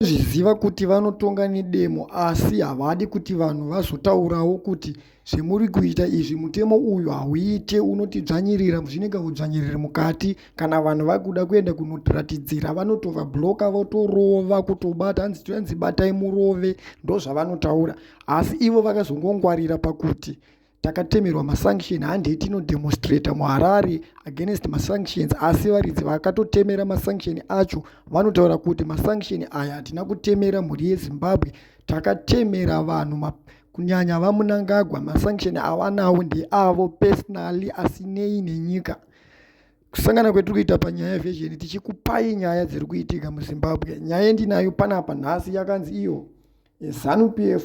Vanozviziva kuti vanotonga nedemo asi havadi kuti vanhu vazotaurawo kuti zvemuri kuita izvi mutemo uyu hauite unotidzvanyirira zvinenge udzvanyiriri mukati kana vanhu vakuda kuenda kunoratidzira vanotova bloka votorova kutobata hanzi toyanzi batai murove ndozvavanotaura asi ivo vakazongongwarira pakuti takatemerwa masanction handei tinodemonstrata muharare against masanctions asi varidzi vakatotemera masanction acho vanotaura kuti masanction aya hatina kutemera mhuri yezimbabwe takatemera vanhu kunyanya vamunangagwa masanction avanawo ndeavo personally asinei nenyika kusangana kwetiri kuita panyaya yevhezheni tichikupai nyaya dziri kuitika muzimbabwe nyaya yendinayo panapa nhasi yakanzi iyo zanu p f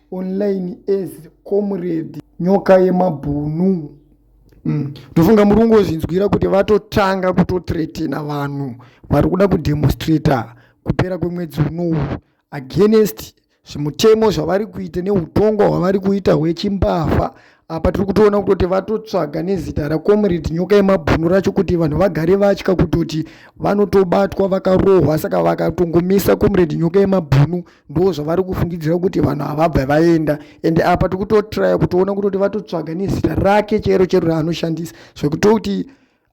online as comrade nyoka yemabhunu mm. ndofunga mm. muri kungozvinzwira kuti vatotanga kutotretena vanhu vari kuda kudemonstrata kupera kwemwedzi unowu against zvimutemo zvavari kuita neutongwa hwavari kuita hwechimbavha apa tiri kutoona kutoti vatotsvaga nezita racomrade nyoka yemabhunu racho kuti vanhu vagare vatya kutoti vanotobatwa vakarohwa saka vakatongomisa comrade nyoka yemabhunu ndo zvavari kufungidzira kuti vanhu havabva vaenda ende apa tiri kutotraya kutoona kutoti vatotsvaga nezita rake chero chero raanoshandisa zvekutoti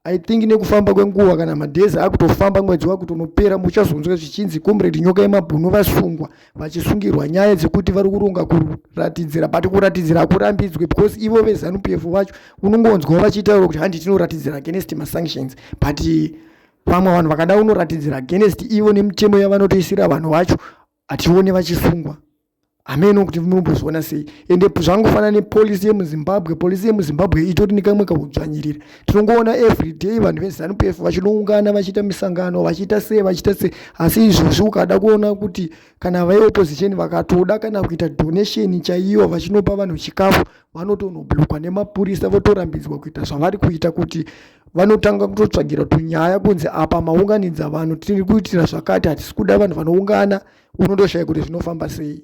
i think nekufamba kwenguva kana madhezi akutofamba mwedzi wakutonopera muchazonzwa zvichinzi comrade nyoka yemabhunu vasungwa vachisungirwa nyaya dzekuti vari kuronga kuratidzira but kuratidzira hakurambidzwe because ivo vezanup f vacho unongonzwa vachitaura kuti handi tinoratidzira against masanctions but vamwe vanhu vakada unoratidzira against ivo nemitemo yavanotoisira vanhu vacho hatione vachisungwa hameno kuti munombozviona sei ende zvangofanana nepolisi yemuzimbabwe polisi yemuzimbabwe itori nekamwe kaudzvanyirira tinongoona everyday vanhu vezanup f vachinoungana vachiita misangano vachiita sei vachiita sei asi izvozvi ukada kuona kuti kana veopposition vakatoda kana kuita donation chaiyo vachinopa vanhu chikafu vanotonoblokwa nemapurisa votorambidzwa kuita zvavari kuita kuti vanotanga kutotsvagira tunyaya kunzi apa maunganidza vanhu tiri kuitira zvakati hatisi kuda vanhu vanoungana unotoshaya kuti zvinofamba sei